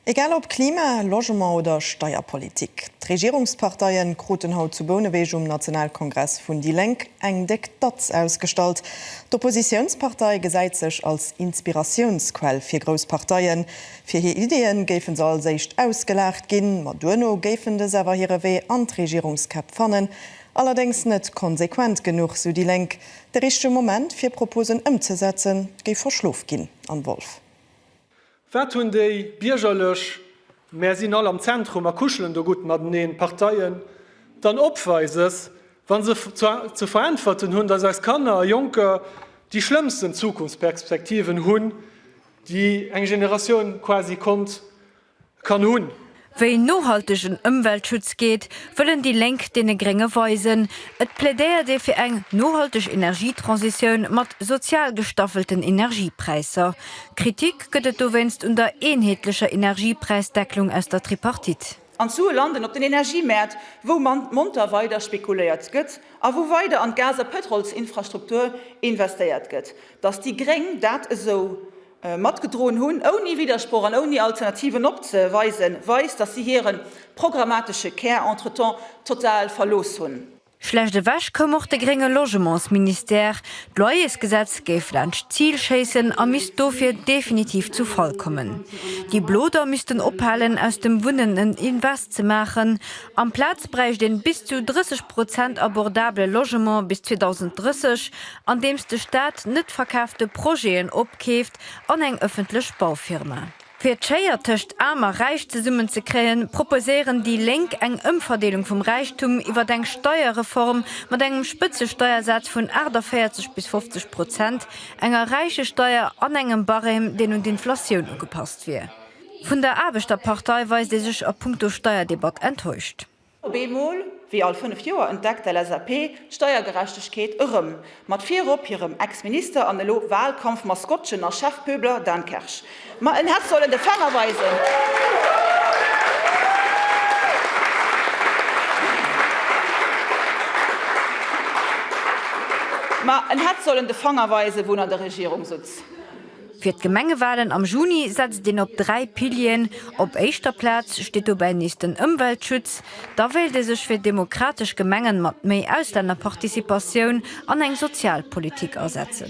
Egal ob Klima, Logement oder Steierpolitik, d'Regierungsparteie kruten haut zu Bouneweg um Nationalkongress vun déi Lénk eng déck Datz ausgestallt. D'Oppositiounspartei gesäit sech als Inspiratiounsquell fir grouss Parteien. Fir hir Iddie géife se als éischt ausgelaacht ginn, ma duerno géifen dës awer hire Wee an d'Regierungskäpp fannen. Allerdéngs net konsequent genuch, sou déi Lénk. De richtege Moment fir Proposen ëmzesetzen, géif verschlof ginn. Anne Wolff. Wat hunn déi Biergerlech, mär sinn all am Zentrum a kuschelen do gutt mateneen, Parteien dann Opweises, wa se ze veräntwerten hunn, datt eis Kanner a Jonker déi schlëmmsten Zukunftsperspektiven hunn, déi eng Generatioun quasi konnt kann hunn. Wéi nohaltegen Ëmweltschutz geet, wëllen déi Lénk deene Grénge weisen. Et plädéiert ee fir eng nohalteg Energietransitioun mat sozial gestaffelten Energiepräisser. Kritik gëtt et dowéinst un der eenheetlecher Energiepräisdecklung aus der Tripartite. An d'Sue landen op den Energiemäert, wou monter weider spekuléiert gëtt a wou weider an d'Gas a Pëtrolsinfrastruktur investéiert gëtt. Datt déi Gréng dat esou. matgedroen hunn, ouni Widdersproch an ouni Alternativen opzeweisen, weist, datt si hire programmatesche Kär entretemps total verlooss hunn. Schlecht ewech koum och de grénge Logementsministère. D'Loyersgesetz géif laanscht d'Zil schéissen a misst dofir definitiv zu Fall kommen. Déi Blo da missten ophalen, aus dem Wunnen en Invest ze maachen. Amplaz bräicht een bis zu 30 Prozent abordabele Logement bis 2030. andeems de Staat net verkaafte Projeten opkeeft an eng ëffentlech Baufirma. Fir d'Schéier tëscht Aarm a Räich zesummen ze kréien, proposéieren déi Lénk eng Ëmverdeelung vum Räichtum iwwert eng Steierreform mat engem Spëtzesteiersaz vun 48 bis 50 Prozent, enger Räichesteier an engem Barème, deen un d'Inflatioun ugepasst wier. Vun der Aarbechterpartei weist ee sech a punkto Steierdebatt enttäuscht. Op eemol, wéi all fënnef Joer, entdeckt d'LSAP d'Steiergerechtegkeet erëm, mat virop hirem Ex-Minister an elo Wahlkampf-Maskottchen a Chefpöbler Dan Kersch. Ma en hätt sollen de Fänger weisen. Ma en hätt sollen de Fanger weisen, wou en an der Regierung sutz. Fir d'Gemengewalen am Juni setzt een op dräi Pilieren. Op éischter Plaz steet dobäi nees den Ëmweltschutz. Da wéilt ee sech fir demokratesch Gemengen mat méi Auslännerparticipatioun an eng Sozialpolitik asetzen.